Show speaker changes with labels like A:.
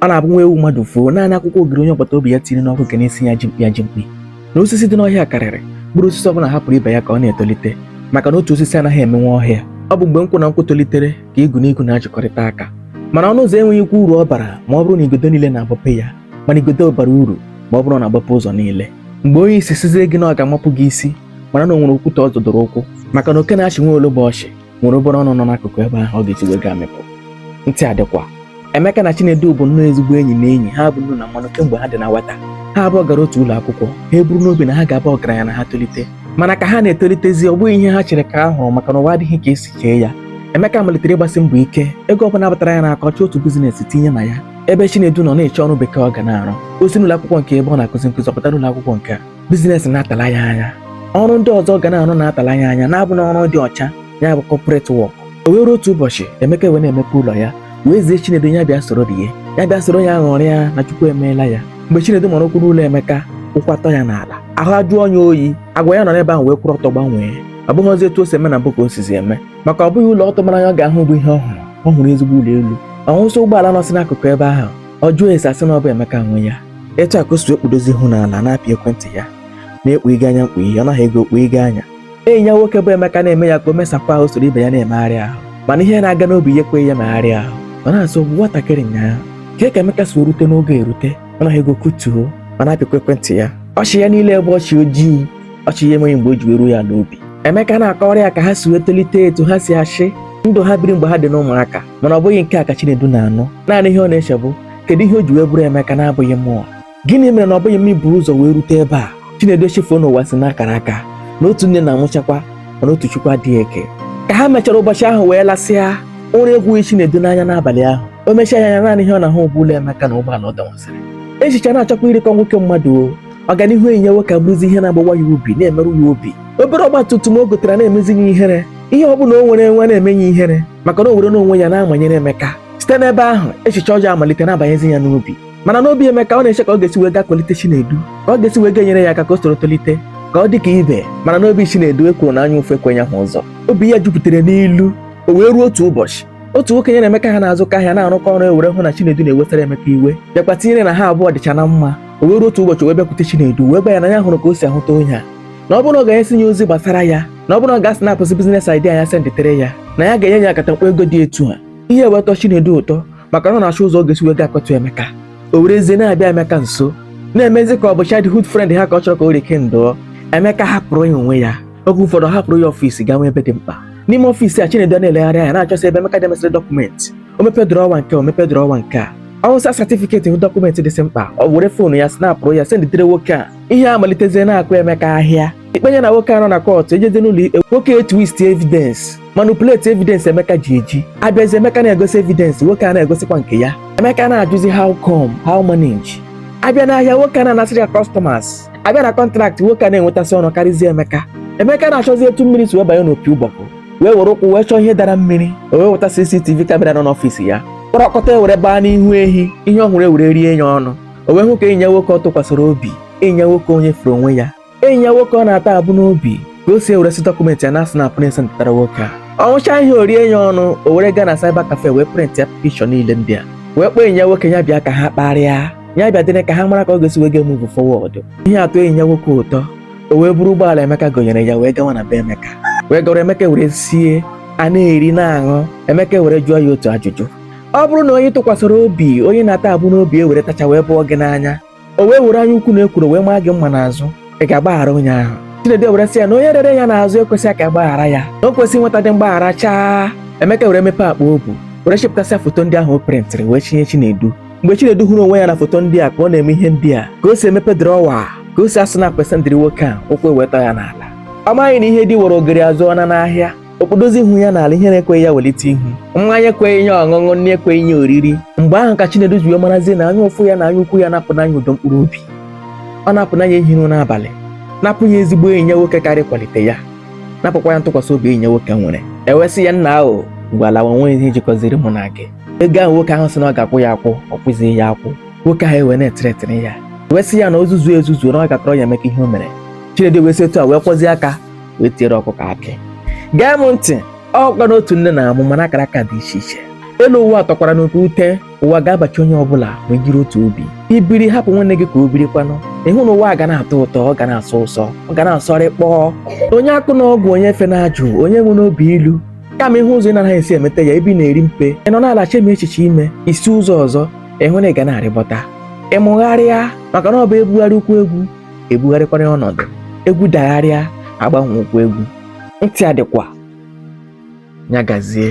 A: ọ na-abụ nwa ewu mmadụ fuo naanị akwụkwọ ogiri onye agbata obi ya tiri n'ọkụ nke na-esi ya ji mkpi ya ji mkpi na osisi dị n'ọhịa karịrị mkpụrụ osisi ọbụla hapụrụ ibe ya ka ọ na-etolite maka na otu osisi anaghị emenwu ọhịa ọ bụ mgbe nkwụ na nkwụ tolitere ka igu na igu na-achịkọrịta aka mana ọnụ ụzọ enweghị ikwu uru ọ bara ma ọ bụrụ na igodo niile na-agbape ya mana igodo bara uru ma ọ bụrụ na ọ na-agbape ụzọ niile mgbe onye isi sịzie gị na ọ ga-amapụ gị isi mara na o nwere okwute ọ zọdoro ụkwụ maka na oke na-achị nwa ologbo ọchị nwere obere ọnụ nọ n'akụkụ ebe ahụ ọ ga-esi wee gaa mịpụ ntị adịkwa Emeka na Chinedu bụ nnọọ ezigbo enyi na enyi ha bụ nnu na mmanụ kemgbe ha dị na nwata ha abụọ gara otu ụlọ akwụkwọ ha eburu n'obi na ha ga-aba ọgaranya na ha tolite mana ka ha na-etolitezi ọ bụghị ihe ha chere ka ha hụrụ maka na ụwa adịghị ka e si chee ya Emeka malitere ịgbasi mbọ ike ego ọbụla batara ya n'aka ọ chọọ otu business tinye na ya ebe Chinedu nọ na-achọ ọrụ bekee ọ ga na-arụ o si n'ụlọ akwụkwọ nke a ebe ọ na-akụzi nkụzi ọ pụta n'ụlọ akwụkwọ nke a business na-atala ya anya ọrụ ndị ọzọ ga na-arụ na-atala ya anya na-abụ na ọrụ dị ọcha ya bụ corporate work o wee ruo otu ụbọchị Emeka wee na-emepe ụlọ ya wee zie Chinedu ya bịa soro rie ya bịa soro ya ṅụrịa na Chukwu emeela ya mgbe Chinedu mara ụkwụ n'ụlọ Emeka ụkwụ atọ ya n'ala ahụ ajụọ ya oyi agwa ya nọ n'ebe ahụ wee kwụrụ ọtọ gbanwee ọ bụghịzi etu o si eme na mbụ ka o sizi eme maka ọ bụghị ụlọ ọ tụwara anya ọ ga-ahụ bụ ihe ọ hụrụ ọ hụrụ ezigbo ụlọ elu ọ hụsị ụgbọala nọsị n'akụkụ ebe ahụ ọ jụọ ese a sị na ọ bụ Emeka nwe ya etu a ka o si ekpudozi ihu n'ala na-apị ekwentị ya na-ekpu ịga anya mkpu ihe ọ naghị ego okpu ịga anya enyi ya nwoke bụ Emeka na-eme ya ka o mesapụ ahụ soro ibe ya na-emegharị ahụ mana ihe na-aga n'obi ya ekweghị ya megharị ahụ ọ na-asị ọ bụ nwatakịrị nyaa ka ka Emeka si erute n'oge erute ọ naghị ego kutuo ọ na-apịkwa ekwentị ya ọchị ya niile bụ ọchị ojii ọchị ya enweghị mgbe o ji wee ruo ya n'obi Emeka na-akọrọ ya ka ha si wee tolite etu ha si achị ndụ ha biri mgbe ha dị n'ụmụaka mana ọ bụghị nke a ka Chinedu na-anụ naanị ihe ọ na-eche bụ kedu ihe o ji wee bụrụ Emeka na-abụghị mụwa gịnị mere na ọ bụghị m bu ụzọ wee rute ebe a Chinedu echefuo na ụwa si n'akara aka na otu nne na-amụchakwa mana otu Chukwu adịghị eke ka ha mechara ụbọchị ahụ wee lasịa ụra egwughị Chinedu n'anya n'abalị ahụ o mechie anya naanị ihe ọ na-ahụ bụ ụlọ Emeka na ụgbọala ọ dọwasịrị echiche na-achọkwa irikọ nwoke mmadụ o ọganihu enyi ya nwoke abụrụzi ihe na-agbawa ya obi na-emerụ ya obi obere ọgba tum tum o gotara na-emezi ya ihere ihe ọ bụla o nwere enwe na-eme ya ihere maka na o were n'onwe ya na-amanyere Emeka site n'ebe ahụ echiche ọjọọ amalite na-abanyezi ya n'obi mana n'obi Emeka ọ na-eche ka ọ ga-esi wee ga-akwalite Chinedu ka ọ ga-esi wee ga-enyere ya aka ka o soro tolite ka ọ dị ka ibe mana n'obi Chinedu ekworo na anya ụfụ ekweghị ya hụ ụzọ obi ya jupụtara n'ilu o wee ruo otu ụbọchị otu nwoke ya na Emeka ha na-azụkọ ahịa na-arụkọ ọrụ wee hụ na Chinedu na-ewetara Emeka iwe bịakwa tinyere na ha abụọ dịcha na mma o wee ruo otu ụbọchị wee bịakwute Chinedu wee gwa ya na ya hụrụ ka o si ahụta onye a na ọ bụrụ na ọ ga-enye ya ozi gbasara ya na ọ bụrụ na ọ gaa snapụsịa biznes idea ya senditere ya na ya ga-enye ya akatakpo ego dị etu a ihe a wee tọọ Chinedu ụtọ maka na ọ na-achọ ụzọ ọ ga-esi wee ga akọtụ Emeka o werezie na-abịa Emeka nso na-emezi ka ọ bụ childhood friend ha ka ọ chọrọ ka o rikindụọ Emeka hapụrụ ya onwe ya oge ụfọdụ ọ hapụrụ ya ọfịs gaa nwee ebe dị mkpa n'ime ọfịs a Chinedu na-elegharị anya na-achọsị ebe Emeka demesịrị dọkụmentị o mepe drọwa nke a o mepe drọwa nke a ọ wụsa satifiketi hụ dọkụmentị dịsị mkpa ọ were foonu ya snapụrụ ya senditere nwoke a ihe a malitezie na-akụ Emeka ahịa ikpe ya na nwoke a nọ na kọtụ ejezi n'ụlọ ikpe nwoke etwist evidence manipulate evidence emeka ji eji abịazi emeka na-egosi evidence nwoke a na-egosikwa nke ya emeka na-ajụzi how come how manage abịa n'ahịa nwoke a na-anasịrị ya customers abịa na kọntraktị nwoke a na-enwetasị ọnụ karịzie emeka emeka na-achọzi etu mmiri si wee banye n'opi ụgbọgụrụ wee were ụkwụ wee chọọ ihe dara mmiri o wee weta CCTV kamera nọ n'ọfịs ya kpọrọ ọkọta ewere baa n'ihu ehi ihe ọ hụrụ ewere rie ya ọnụ o wee hụ ka enyi ya nwoke ọ tụkwasịrị obi enyi ya nwoke onye furu onwe ya enyi ya nwoke ọ na-ata abụ n'obi ka o si eweresi dọkụmentị ya na-asnapụ esenditara nwoke a ọ hụchaa ihe a o rie ya ọnụ o were gaa na cyber cafe wee prịntịa pikchọ niile ndị a wee kpọọ enyi ya nwoke ya bịa ka ha kparịa ya bịa dịrị ka ha mara ka ọ ga-esi wee ga-emuvu fọwọdụ ihe a atọọ enyi ya nwoke ụtọ o wee buru ụgbọala Emeka gonyere ya wee gawa na be Emeka wee garuo Emeka were sie a na-eri na-aṅụ Emeka were jụọ ya otu ajụjụ ọ bụrụ na onye ị tụkwasịrị obi onye ị na-ata abụ n'obi ewere tachaa wee bụọ gị n'anya o wee were anya ukwu na ekworo wee maa gị mma n'azụ ị ga-agbaghara onye ahụ Chinedu ewere sị ya na onye rere ya n'azụ ekwesịghị ka a gbaghara ya na o kwesịghị inwetadị mgbaghara chaa Emeka were mepee akpa o bu were chepụtasịa foto ndị ahụ o prịntịrị wee chinye Chinedu mgbe Chinedu hụrụ onwe ya na foto ndị a ka ọ na-eme ihe ndị a ka o si emepe drọwa ka o si asnapụ esendiri nwoke a ụkwụ ewee tọ ya n'ala ọ maghị na ihe di woro ogeri azụọna n'ahịa o kpodozie ihu ya n'ala ihere ekweghị ya welite ihu mmanya ekweghị ya ọṅụṅụ nri ekweghị ya oriri mgbe ahụ ka Chinedu ji wee marazie na anya ụfụ ya na anya ukwu ya anapụna ya udo mkpụrụ obi ọ napụna ya ihi ụra n'abalị napụ ya ezigbo enyi ya nwoke gaara ịkwalite ya napụkwa ya ntụkwasị obi enyi ya nwoke nwere ewee sị ya nnaa gawa na o nweghị ihe jikọziri mụ na gị ego ahụ nwoke ahụ sị na ọ ga-akwụ ya akwụ ọ kwụzighị ya akwụ nwoke ahụ ewee na-etretin ya ewee sị ya na o zuzue ezuzu na ọ ga-akọrọ Emeka ihe o mere Chinedu ewee si etu a wee kwọzie aka wee tiere ọkụkọ akị gee m ntị ọ kwa n'otu nne na-amụ mana akara aka dị iche iche elu ụwa atọkwara n'oke ute ụwa ga-abachi onye ọbụla ma jiri otu obi i biri hapụ nwanne gị ka o biri kwanụ ịhụ na ụwa ga na-atọ ụtọ ọ ga na-asọ ụsọ ọ ga na-asọrị kpọọ onye akọna ọgwụ onye efena ajụ onye enwena obi ilu kama ịhụ ụzọ ị na-anaghị esi emeta ya ebe ị na-eri mpe ị nọ n'ala chee echiche i wee si ụzọ ọzọ ịhụ na ị ga na-arịbọta ịmụgharịa maka na ọ bụ e bugharịa ụkwụ egwu e bugharịkwara ya ọnọdụ egwu dagharịa a gbanwee ụkwụ egwu ntị adịkwa ya gazie